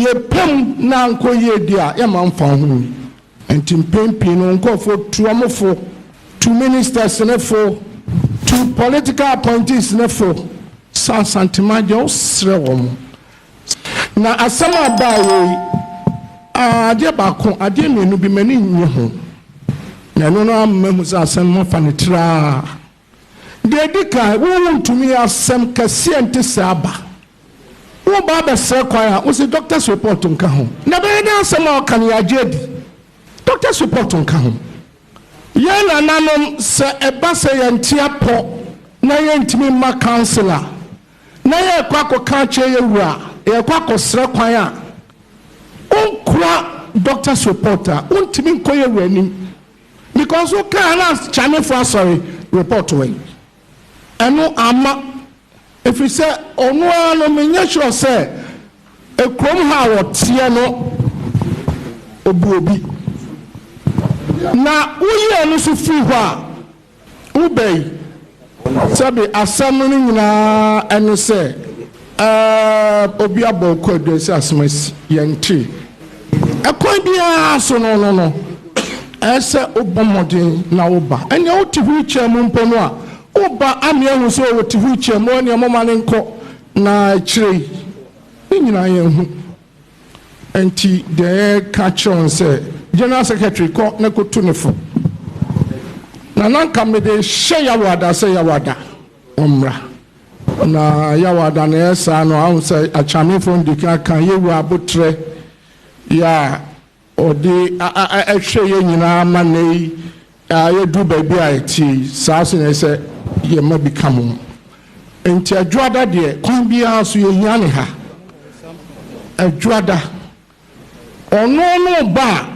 Yɛpɛ mu na ankɔ yie deɛ a, yɛmma mfa ho nni. Nti mpɛn pii no nkurɔfoɔ tu wɔn fo, tu ministers no fo, tu political appointees no fo. Sɛ Asantehene Adjei, wosrɛ wɔn. Na asɛm a baeɛ yi, aa, adeɛ baako, adeɛ mmienu bi, m'ani nnye ho, na ɛno no ara ma mahu sɛ asɛm no mafa no tiraa. Deɛ ɛdi kan, wo wontumi yɛ asɛm kɛseɛ nte sɛ aba. Woba abɛsrɛ kwan a, wose doctor's report nka ho. Na ɛbɛyɛ dɛ asɛm a ɔka no yɛagye adi. Doctor's report nka ho. Yɛn nananom, sɛ ɛba sɛ yɛnte apɔ na yɛntumi mma counsel a, na yɛrekɔ akɔka akyerɛ yɛn wura a, yɛrekɔ akɔsrɛ kwan a, onkura doctor's report a, ontumi nkɔ yɛn wura anim because wokaa a na Chinefo asɔre report wɛn. Ɛno amma, ɛfiri sɛ ɔno ara no menyɛ sure sɛ kurom ha a wɔteɛ no ɔbu obi. Na woyi ɛno nso firi hɔ a, Wobɛn sɛbe asɛm no nyinaa ne sɛ ɛɛb obi abɔ wo kwaadua sɛ asɛm asi, yɛnte. Ɛkwan biara so no no no, ɛɛ sɛ wobɔ mmɔden na woba. Ɛnea wote wheel chair mu mpo no a, woba ama yɛahu sɛ ɔte wheel chair mu, ɛnea momma no nkɔ. Na akyire yi, ne nyinaa yɛnhu Ɛnti deɛ yɛreka kyerɛ wo sɛ General Secretary kɔ na kɔtu no fo na na nka mede hyɛ Yawoada sɛ Yawoada ɔmmra na Yawoada na ɛyɛ saa no ahu sɛ Akyamefoɔ no dikan ka yɛwura abotrɛ yɛ a Ɔde hwɛ yɛn nyinaa ma nnɛ yi a yɛaduru baabi a ɛteɛ yi. Saa nso na ɛsɛ sɛ yɛn mma bi ka ho. Enti Adwoada deɛ, kwan biara so yɛhia ne ha. Adwoada, ɔno ne ɔba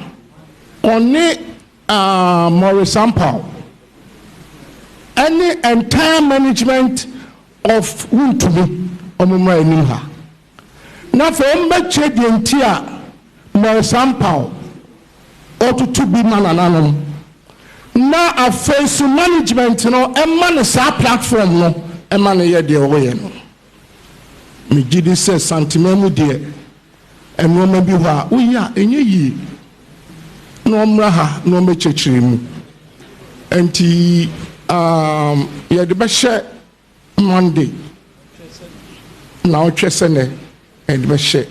a ɔne Maurice Ampaw ne entire management of Wontumi wɔmmra anim ha. Na afei wɔbɛkyerɛ deɛ nti a Melsam-Pal ɔtoto bi ma nananom. Na afei nso management no ma no saa platform no ma no yɛ deɛ ɔyɛ no. Megye di sɛ Santeman mu deɛ nnoɔma bi hɔ a woyɛ a ɛnyɛ yie na wɔmmra ha na wɔmmɛkyerɛkyerɛ mu. Ɛnti yɛde bɛhyɛ. Monday na ɔtwɛ sɛ nɛ ɛde bɛ hyɛ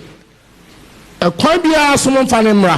ɛkwan biara so mo nfa no mmra.